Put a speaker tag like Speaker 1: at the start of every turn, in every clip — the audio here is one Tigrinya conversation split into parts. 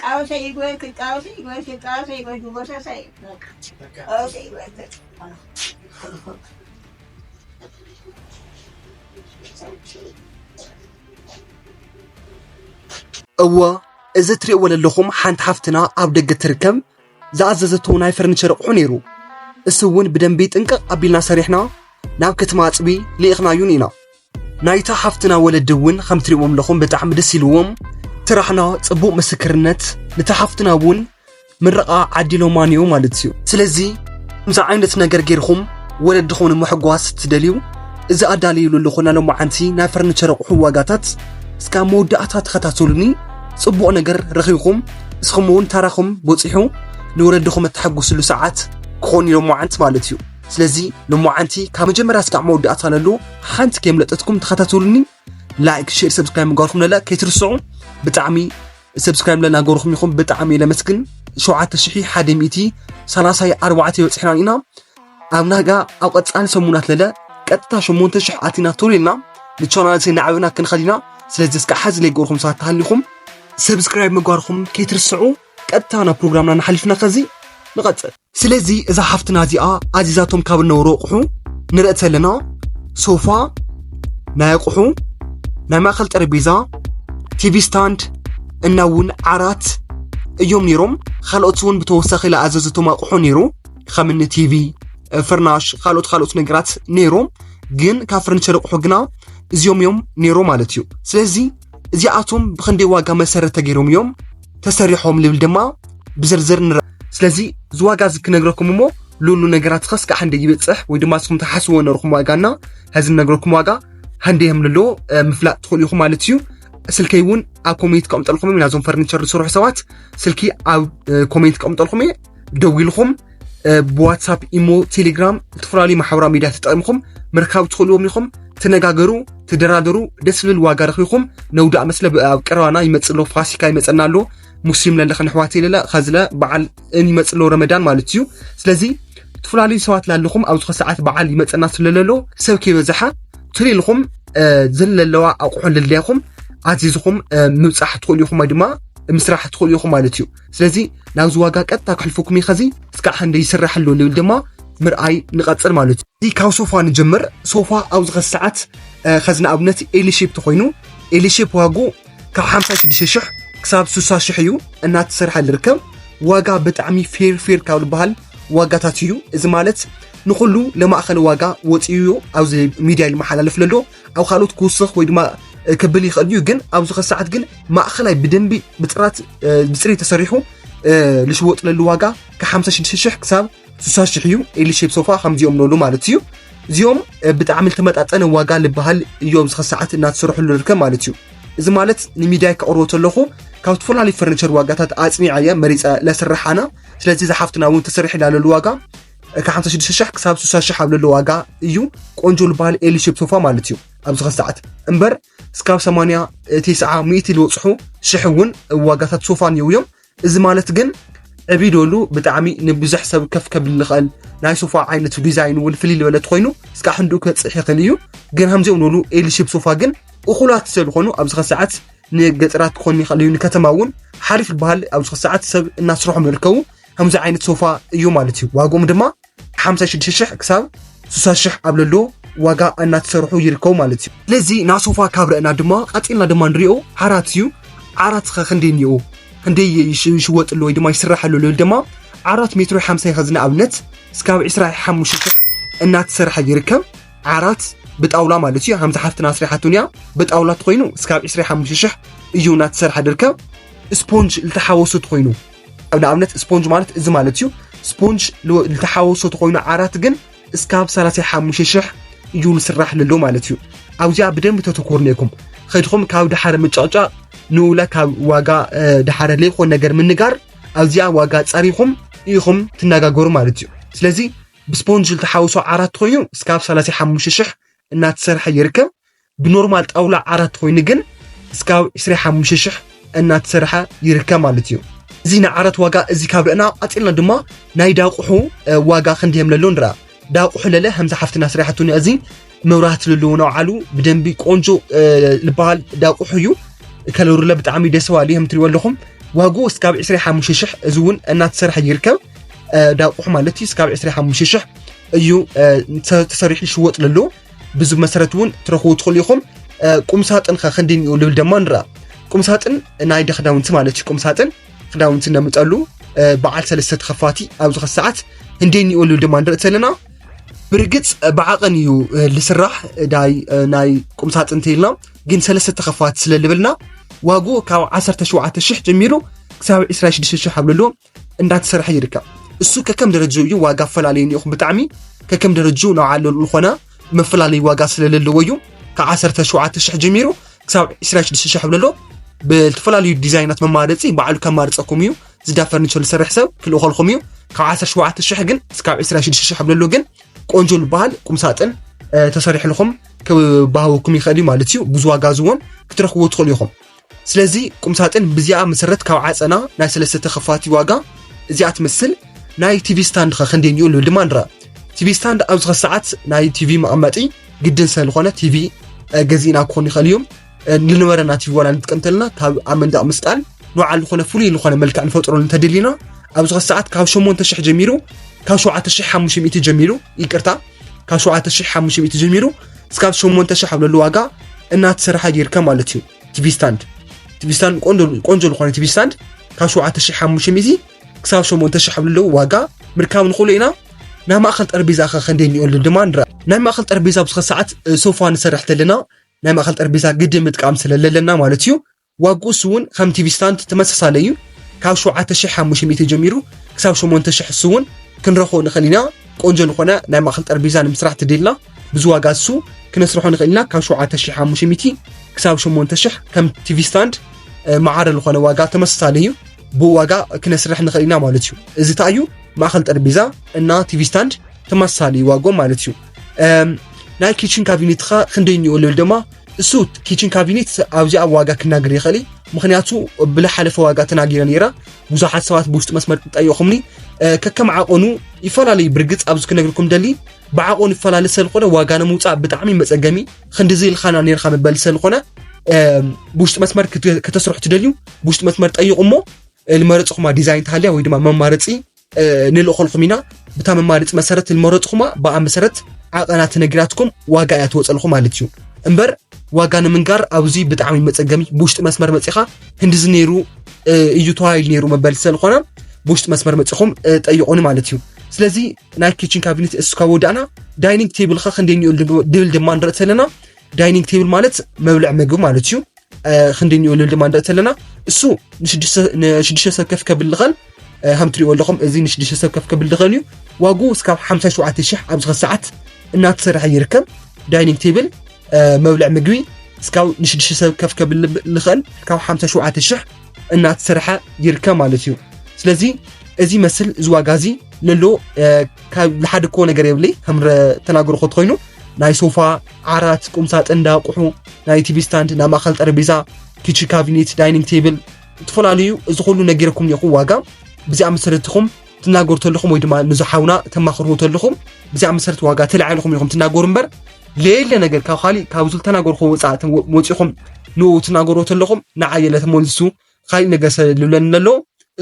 Speaker 1: ቃወሰ ይግበር ክቃወሰ ይግበር ክቃወሰ ይግበር ድጎሰሰ
Speaker 2: ቃወሰ ይግበር እወ እዚ እትሪእዎ ዘለኹም ሓንቲ ሓፍትና ኣብ ደገ ትርከብ ዝኣዘዘቶ ናይ ፈርኒቸር ኣቑሑ ነይሩ እሱ እውን ብደንቢ ጥንቅቕ ኣቢልና ሰሪሕና ናብ ከተማ ኣፅቢ ልኢኽናዩን ኢና ናይታ ሓፍትና ወለዲ እውን ከም ትሪእዎም ኣለኹም ብጣዕሚ ደስ ኢልዎም ትራሕና ጽቡቕ ምስክርነት ንታ ሓፍትና እውን ምረቓ ዓዲሎማ ነዮ ማለት እዩ ስለዚ ከምዚ ዓይነት ነገር ጌርኹም ወለድኹም ንምሕጓስ እትደልዩ እዚ ኣዳልዩሉ ኣለኹ ናይ ሎማዓንቲ ናይ ፈርኒቸር ኣቑሑ ዋጋታት እስካብ መወዳእታ ተኸታተሉኒ ጽቡቕ ነገር ረኺብኩም እስኹም እውን ታራኹም በፂሑ ንወለድኹም እተሐጉስሉ ሰዓት ክኾን እዩ ሎማዓንቲ ማለት እዩ ስለዚ ንሞዓንቲ ካብ መጀመርያ ስካዕ መወዳእታ ነሉ ሓንቲ ከየምለጠትኩም ተኸታተሉኒ ላይክ ሼር ሰብስክራይብ ምግባርኩም ነለ ከይትርስዑ ብጣዕሚ ሰብስክራይብ ለናገርኹም ይኹም ብጣዕሚ እየ ለመስግን ሸውዓተ ሽሒ ሓደ ሚእቲ ሰላሳይ ኣርባዕተ ይበፅሕናን ኢና ኣብ ናጋ ኣብ ቀፃሊ ሰሙናት ለለ ቀጥታ ሸሞንተ ሽሕ ኣቲና ቶሎ ኢልና ንቻናል ሰይ ናዕብና ክንኸድ ኢና ስለዚ እስከ ሓዚ ለይገርኹም ሰባት ተሃሊኹም ሰብስክራይብ ምግባርኹም ከይትርስዑ ቀጥታ ናብ ፕሮግራምና ንሓሊፍና ከዚ ንቐፅል ስለዚ እዛ ሓፍትና እዚኣ ኣዚዛቶም ካብ እነበሩ ኣቑሑ ንርኢ ዘለና ሶፋ፣ ናይ ኣቑሑ ናይ ማእኸል ጠረጴዛ፣ ቲቪ ስታንድ እና እውን ዓራት እዮም ነይሮም። ካልኦት እውን ብተወሳኺ ዝኣዘዘቶም ኣቑሑ ነይሩ ከምኒ ቲቪ፣ ፍርናሽ፣ ካልኦት ካልኦት ነገራት ነይሮም። ግን ካብ ፈርኒቸር ኣቑሑ ግና እዚኦም እዮም ነይሮም ማለት እዩ። ስለዚ እዚኣቶም ብክንደይ ዋጋ መሰረት ተገይሮም እዮም ተሰሪሖም ልብል ድማ ብዝርዝር ንረ ስለዚ እዚ ዋጋ እዚ ክነግረኩም እሞ ሉሉ ነገራት ኸስ ከዓ እንደ ይበፅሕ ወይ ድማ ስኹም ተሓስዎ ነርኹም ዋጋና ሀዚ ነግረኩም ዋጋ ሃንደ የም ለሎ ምፍላጥ ትኽእሉ ኢኹም ማለት እዩ ስልከይ እውን ኣብ ኮሜንት ከቕምጠልኩም ኢና እዞም ፈርኒቸር ዝስርሑ ሰባት ስልኪ ኣብ ኮሜንት ከቕምጠልኩም እየ ደዊልኹም ብዋትሳፕ ኢሞ ቴሌግራም ዝተፈላለዩ ማሕበራዊ ሚድያ ተጠቂምኹም ምርካብ ትኽእልዎም ኢኹም ትነጋገሩ ትደራደሩ ደስ ዝብል ዋጋ ረኺኹም ነውዳእ መስለ ኣብ ቀረባና ይመፅእ ኣሎ ፋሲካ ይመፀና ኣሎ ሙስሊም ለለኸ ንሕዋት የለለ ከዝለ በዓል እን ይመፅእ ኣሎ ረመዳን ማለት እዩ ስለዚ ዝተፈላለዩ ሰባት ላለኹም ኣብ ዝኾነ ሰዓት በዓል ይመፀና ስለለሎ ሰብ ከይበዛሓ ትልኢልኹም ዘለለዋ ኣቑሑ ልለያኹም ኣዚዝኹም ምብፃሕ ትኽእሉ ኢኹም ወይ ድማ ምስራሕ ትኽእሉ ኢኹም ማለት እዩ ስለዚ ናብዚ ዋጋ ቀጥታ ክሕልፈኩም እዩ ከዚ እስካዕ ክንደይ ይስራሕ ኣሎ ንብል ድማ ምርኣይ ንቐፅል ማለት እዩ እዚ ካብ ሶፋ ንጀምር ሶፋ ኣብዚ ከዚ ሰዓት ከዚ ንኣብነት ኤሊ ሼፕ ተኮይኑ ኤሊ ሼፕ ዋጉ ካብ 56 ሽሕ ክሳብ 60 ሽሕ እዩ እናተሰርሐ ዝርከብ ዋጋ ብጣዕሚ ፌር ፌር ካብ ዝበሃል ዋጋታት እዩ እዚ ማለት ንኩሉ ለማእኸሊ ዋጋ ወፂኡ ኣብዚ ሚድያ ይመሓላለፍ ለሎ ኣብ ካልኦት ክውስኽ ወይ ድማ ክብል ይኽእል እዩ ግን ኣብዚ ከሰዓት ግን ማእኸላይ ብደንቢ ብጥራት ብፅሪ ተሰሪሑ ልሽወጥለሉ ዋጋ ከ56 ሽሕ ክሳብ 60 ሽሕ እዩ ኤሊ ሼፕ ሶፋ ከምዚኦም ነሉ ማለት እዩ እዚኦም ብጣዕሚ ዝተመጣጠነ ዋጋ ዝበሃል እዩ ኣብዚ ከሰዓት እናተሰርሐሉ ዝርከብ ማለት እዩ እዚ ማለት ንሚድያ ከቕርቦ ተለኹ ካብ ዝተፈላለዩ ፈርኒቸር ዋጋታት ኣፅኒዓ እያ መሪፀ ለስርሓና ስለዚ ዝሓፍትና እውን ተሰሪሕ ላለሉ ዋጋ ካብ 56 ሻሕ ክሳብ 60 ሻሕ ኣብ ዘሎ ዋጋ እዩ ቆንጆ ዝበሃል ኤሊ ሼፕ ሶፋ ማለት እዩ ኣብዚ ኸዚ ሰዓት እምበር እስካብ 80 ቴስዓ ሚእቲ ዝበፅሑ ሽሕ እውን ዋጋታት ሶፋ እኒው እዮም እዚ ማለት ግን ዕብ ደሉ ብጣዕሚ ንብዙሕ ሰብ ከፍ ከብል ዝኽእል ናይ ሶፋ ዓይነት ዲዛይን እውን ፍልይ ዝበለ ኮይኑ እስካ ሕንድኡ ከፅሕ ይኽእል እዩ ግን ከምዚኦም ዝበሉ ኤሊ ሼፕ ሶፋ ግን እኹላት ስለዝኾኑ ኣብዚ ኸዚ ሰዓት ንገጠራት ክኾን ይኽእል እዩ ንከተማ እውን ሓሪፍ ዝበሃል ኣብዚ ኸዚ ሰዓት ሰብ እናስርሖም ይርከቡ ከምዚ ዓይነት ሶፋ እዩ ማለት እዩ ዋግኦም ድማ 56 ሽሕ ክሳብ 60 ሽሕ ኣብ ለሎ ዋጋ እናተሰርሑ ይርከቡ ማለት እዩ ስለዚ ናብ ሶፋ ካብ ረእና ድማ ቀፂልና ድማ ንሪኦ ዓራት እዩ ዓራት ኸ ክንደይ እኒኦ ክንደይ ይሽወጥሉ ወይ ድማ ይስራሐሉ ልብል ድማ ዓራት ሜትሮ 50 ኸዚ ንኣብነት እስካብ 25 ሽሕ እናተሰርሐ ይርከብ ዓራት ብጣውላ ማለት እዩ ከምዚ ሓፍትና ኣስሪሓቱን እያ ብጣውላ ትኮይኑ እስካብ 25 ሽሕ እዩ እናተሰርሐ ድርከብ ስፖንጅ ዝተሓወሱ ትኮይኑ ኣብ ንኣብነት ስፖንጅ ማለት እዚ ማለት እዩ ስፖንጅ ዝተሓወሶ ተኮይኑ ዓራት ግን እስካብ 35 ሽሕ እዩ ዝስራሕ ለሎ ማለት እዩ ኣብዚኣ ብደንብ ተተኮር ነይኩም ከድኩም ካብ ድሓረ ምጫጫቅ ንኡለ ካብ ዋጋ ድሓረ ለይኮን ነገር ምንጋር ኣብዚኣ ዋጋ ጸሪኹም ኢኹም ትነጋገሩ ማለት እዩ ስለዚ ብስፖንጅ ዝተሓወሶ ዓራት ኮይኑ እስካብ 35 ሽሕ እናተሰርሐ ይርከብ ብኖርማል ጣውላ ዓራት ኮይኑ ግን እስካብ 25 ሽሕ እናተሰርሐ ይርከብ ማለት እዩ እዚ ናይ ዓራት ዋጋ እዚ ካብ ርእና ቀፂልና ድማ ናይ ዳቁሑ ዋጋ ክንዲ የምለሎ ንረኣ ዳቁሑ ለለ ከምዚ ሓፍትና ስሪሓቱ እዚ መብራህቲ ዘለዎ ናውዓሉ ብደንቢ ቆንጆ ዝበሃል ዳቁሑ እዩ ከለሩለ ብጣዕሚ ደስ በሃሊ ከም ትሪእዎ ኣለኹም ዋጉ እስካብ 25 ሽሕ እዚ እውን እናተሰርሐ ይርከብ ዳቁሑ ማለት እዩ እስካብ 25 ሽሕ እዩ ተሰሪሑ ይሽወጥ ለሎ ብዚ መሰረት እውን ትረኽቡ ትኽእሉ ኢኹም ቁምሳጥን ከ ክንዲ ንኡ ልብል ደማ ንርኣ ቁምሳጥን ናይ ደ ክዳውንቲ ማለት እዩ ቁምሳጥን ክዳውንቲ ነምጠሉ በዓል ሰለስተ ተኸፋቲ ኣብ ዝኸ ሰዓት ህንዲ ንኡ ልብል ደማ ንርኢ ዘለና ብርግፅ ብዓቐን እዩ ዝስራሕ ዳይ ናይ ቁምሳጥን ተይልና ግን ሰለስተ ተኸፋቲ ስለ ልብልና ዋግኡ ካብ 17 ሽሕ ጀሚሩ ክሳብ 26 ሽሕ ኣብ ልሎ እንዳተሰርሐ ይርከብ እሱ ከከም ደረጃ እዩ ዋጋ ኣፈላለዩ ኒኹ ብጣዕሚ ከከም ደረጃ ናብ ዓሉ ዝኾነ መፈላለዩ ዋጋ ስለለለዎ እዩ ካብ 17,000 ጀሚሩ ክሳብ 26,000 ብለሎ ብዝተፈላለዩ ዲዛይናት መማረፂ ባዕሉ ከማርፀኩም እዩ ዝዳ ፈርኒቸር ዝሰርሕ ሰብ ክልእኸልኩም እዩ ካብ 17,000 ግን እስካብ 26,000 ብለሎ ግን ቆንጆ ዝበሃል ቁምሳጥን ተሰሪሕልኹም ክባሃወኩም ይኽእል እዩ ማለት እዩ ብዙ ዋጋ ዝውን ክትረኽብዎ ትኽእሉ ኢኹም ስለዚ ቁምሳጥን ብዚኣ መሰረት ካብ ዓጸና ናይ ሰለስተ ተኸፋቲ ዋጋ እዚኣ ትመስል። ናይ ቲቪ ስታንድ ከ ክንደይ እንዲኡ ንብል ድማ ንርኣ። ቲቪ ስታንድ ኣብዚ ከ ሰዓት ናይ ቲቪ መቐመጢ ግድን ስለ ዝኾነ ቲቪ ገዚእና ክኾን ይኽእል እዩ ንነበረና ቲቪ ዋላ ንጥቀም እንተለና ካብ ኣብ መንደቕ ምስቃል ንባዕል ዝኾነ ፍሉይ ዝኾነ መልክዕ ንፈጥሮ እንተደሊና ኣብዚ ከ ሰዓት ካብ 8000 ጀሚሩ ካብ 7500 ጀሚሩ ይቅርታ ካብ 7500 ጀሚሩ እስካብ ሸሞንተ ሽሕ ኣብ ለሉ ዋጋ እናተሰራሓ ጌርካ ማለት እዩ ቲቪ ስታንድ ቲቪ ስታንድ ቆንጆ ዝኾነ ቲቪ ስታንድ ካብ ሸውዓተ ሽሕ ሓሙሽተ ሚእቲ ክሳብ ሸሞንተ ሽሕ ኣብ ለለዉ ዋጋ ምርካብ ንኽእሉ ኢና ናይ ማእኸል ጠረጴዛ ከ ከንደይ እኒኦሉ ድማ ንርኣ ናይ ማእኸል ጠረጴዛ ብዝኸ ሰዓት ሶፋ ንሰርሕ ተለና ናይ ማእኸል ጠረጴዛ ግድን ምጥቃም ስለለለና ማለት እዩ ዋግኡ እሱ እውን ከም ቲቪ ስታንድ ተመሳሳሊ እዩ ካብ ሸውዓተ ሽሕ ሓሙሽተ ሚእቲ ጀሚሩ ክሳብ ሸሞንተ ሽሕ እሱ እውን ክንረኽቦ ንኽእል ኢና ቆንጆ ዝኾነ ናይ ማእኸል ጠረጴዛ ንምስራሕ ተደልና ብዙ ዋጋ እሱ ክነስርሖ ንኽእል ኢና ካብ ሸውዓተ ሽሕ ሓሙሽተ ሚእቲ ክሳብ ሸሞንተ ሽሕ ከም ቲቪ ስታንድ መዓረ ዝኾነ ዋጋ ተመሳሳሊ እዩ ብዋጋ ክነስርሕ ንኽእል ኢና ማለት እዩ እዚ እንታይ እዩ ማእኸል ጠረጴዛ እና ቲቪ ስታንድ ተመሳሳሊ ዋጎ ማለት እዩ ናይ ኪችን ካቢኔትኻ ክንደይ እኒኦ ልብል ድማ እሱ ኪችን ካቢኔት ኣብዚኣ ዋጋ ክናገር ይኽእል ምክንያቱ ብልሓለፈ ዋጋ ተናጊረ ነይረ ብዙሓት ሰባት ብውሽጢ መስመር ጠየኹምኒ ከከም ዓቐኑ ይፈላለዩ ብርግፅ ኣብዚ ክነግርኩም ደሊ ብዓቐኑ ይፈላለ ስለዝኾነ ዋጋ ንምውፃእ ብጣዕሚ መፀገሚ ክንዲዚ ኢልካና ነርካ መበል ስለዝኾነ ብውሽጢ መስመር ከተስርሑ ትደልዩ ብውሽጢ መስመር ጠይቑ እሞ ልመረፅኹማ ዲዛይን ተሃልያ ወይ ድማ መማረፂ ንልእኾልኹም ኢና ብታ መማርፅ መሰረት ንመረፅኹማ ብኣ መሰረት ዓቐና ተነጊራትኩም ዋጋ እያ ትወፀልኹም ማለት እዩ እምበር ዋጋ ንምንጋር ኣብዚ ብጣዕሚ መፀገሚ ብውሽጢ መስመር መፂኻ ክንዲዚ ነይሩ እዩ ተዋሂሉ ነይሩ መበል ስለዝኾነ ብውሽጢ መስመር መፂኹም ጠይቑኒ ማለት እዩ ስለዚ ናይ ኪችን ካቢኔት እስካ ወዳእና ዳይኒንግ ቴብልካ ክንደይ ድብል ድማ ንርኢ ተለና ዳይኒንግ ቴብል ማለት መብልዕ ምግቢ ማለት እዩ ክንዲ ንኡልል ድማ ንርኢ ተለና እሱ ንሽዱሽተ ሰብ ከፍ ከብል ዝኸል ከም ትሪእዎ ኣለኹም እዚ ንሽዱሽተ ሰብ ከፍ ከብል ዝኸል እዩ ዋጉ እስካብ 57 ሽሕ ኣብዚ ሰዓት እናተሰርሐ ይርከብ ዳይኒንግ ቴብል መብልዕ ምግቢ እስካብ ንሽዱሽተ ሰብ ከፍ ከብል ዝኸል ካብ 57 ሽሕ እናተሰርሐ ይርከብ ማለት እዩ ስለዚ እዚ መስል እዚ ዋጋ እዚ ለሎ ዝሓደኮ ነገር የብለይ ከም ተናገርኮ ትኮይኑ ናይ ሶፋ ዓራት፣ ቁምሳጥን እንዳ ኣቑሑ፣ ናይ ቲቪ ስታንድ፣ ናይ ማእኸል ጠረጴዛ፣ ኪችን ካቢኔት፣ ዳይኒንግ ቴብል እትፈላለዩ እዚ ኩሉ ነጊረኩም እኒኹ ዋጋ ብዚኣ መሰረት ኢኹም ትናገሩ ተለኹም ወይ ድማ ንዚ ሓውና ተማኽርዎ ተለኹም ብዚኣ መሰረት ዋጋ ተላዒልኹም ኢኹም ትናገሩ እምበር ለየለ ነገር ካብ ካሊእ ካብ ዝልተናገርኩ ወፃእ ወፂኹም ንኡ ትናገሩ ተለኹም ንዓይ የለ ተመልሱ ካሊእ ነገር ሰልብለኒ ኣሎ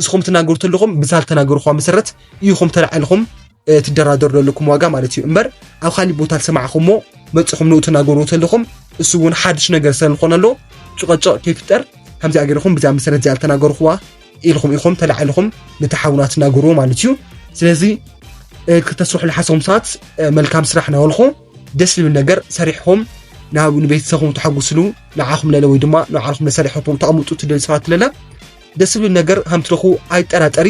Speaker 2: እስኹም ትናገሩ ተለኹም ብዛል ተናገርኳ መሰረት ኢኹም ተላዕልኹም ትደራደሩ ዘለኩም ዋጋ ማለት እዩ እምበር ኣብ ካሊእ ቦታ ዝሰማዕኹሞ መፅኹም ንኡ ትናገሩ ተለኹም እሱ እውን ሓድሽ ነገር ስለዝኾነ ኣሎ ጭቐጭቕ ከይፍጠር ከምዚ ኣገርኹም ብዛ መሰረት እዚኣ ተናገርኹዋ ኢልኹም ኢኹም ተላዕልኹም ነቲ ሓውና ትናገርዎ ማለት እዩ ስለዚ ክተስርሑ ዝሓሰኹም ሰባት መልካም ስራሕ ናበልኹ ደስ ዝብል ነገር ሰሪሕኹም ናብ ንቤተሰብኹም ተሓጉስሉ ንዓኹም ለለ ወይ ድማ ንባዕልኹም ለሰሪሕኹም ተቐምጡ ትደል ሰባት ለለ ደስ ዝብል ነገር ከም ትረኹ ኣይጠራጠሪ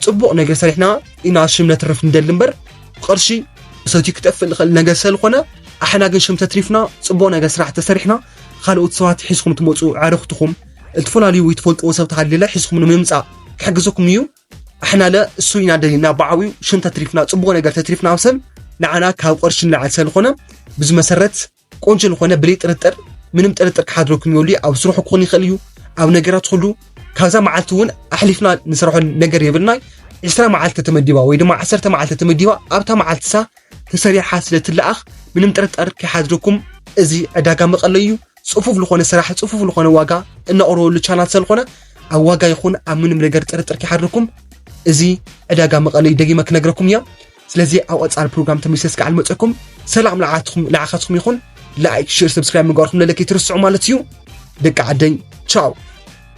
Speaker 2: ፅቡቕ ነገር ሰሪሕና ኢና ሽም ነትርፍ ንደሊ እምበር ብቕርሺ ሰትዩ ክጠፍእ ንኽእል ነገር ስለዝኾነ ኣሕና ግን ሽም ተትሪፍና ፅቡቕ ነገር ስራሕ ተሰሪሕና ካልኦት ሰባት ሒዝኩም ትመፁ ኣዕርኽትኹም እትፈላለዩ ወይ ትፈልጥዎ ሰብ ተሃልለ ሒዝኩም ንምምፃእ ክሕግዘኩም እዩ ኣሕናለ እሱ ኢና ደሊና ብዓብዩ ሽም ተትሪፍና ፅቡቅ ነገር ተትሪፍና ምሰል ንዓና ካብ ቅርሺ ንላዕሊ ሰልኾነ ብዚ መሰረት ቆንጆ ዝኾነ ብለይ ጥርጥር ምንም ጥርጥር ክሓድረኩም ይብሉ ኣብ ስርሑ ክኾን ይኽእል እዩ ኣብ ነገራት ኩሉ ካብዛ መዓልቲ እውን ኣሕሊፍና ንሰርሖ ነገር የብልና ዕስራ መዓልቲ ተመዲባ ወይ ድማ ዓሰርተ መዓልቲ ተመዲባ ኣብታ መዓልትሳ ተሰሪሓ ስለ ትለኣኽ ምንም ጥርጥር ከይሓድረኩም እዚ ዕዳጋ መቐለ እዩ ጽፉፍ ዝኾነ ስራሕ ጽፉፍ ዝኾነ ዋጋ እናቕረበሉ ቻናል ስለኾነ ኣብ ዋጋ ይኹን ኣብ ምንም ነገር ጥርጥር ከይሓድርኩም እዚ ዕዳጋ መቐለዩ ደጊመ ክነግረኩም እያ ስለዚ ኣብ ቐፃሊ ፕሮግራም ተመልሰ ስከ ኣልመፀኩም ሰላም ንዓኻትኩም ይኹን ላይክ ሽር ሰብስክራይብ ምግባርኩም ለለክ ይትርስዑ ማለት እዩ ደቂ ዓደኝ ቻው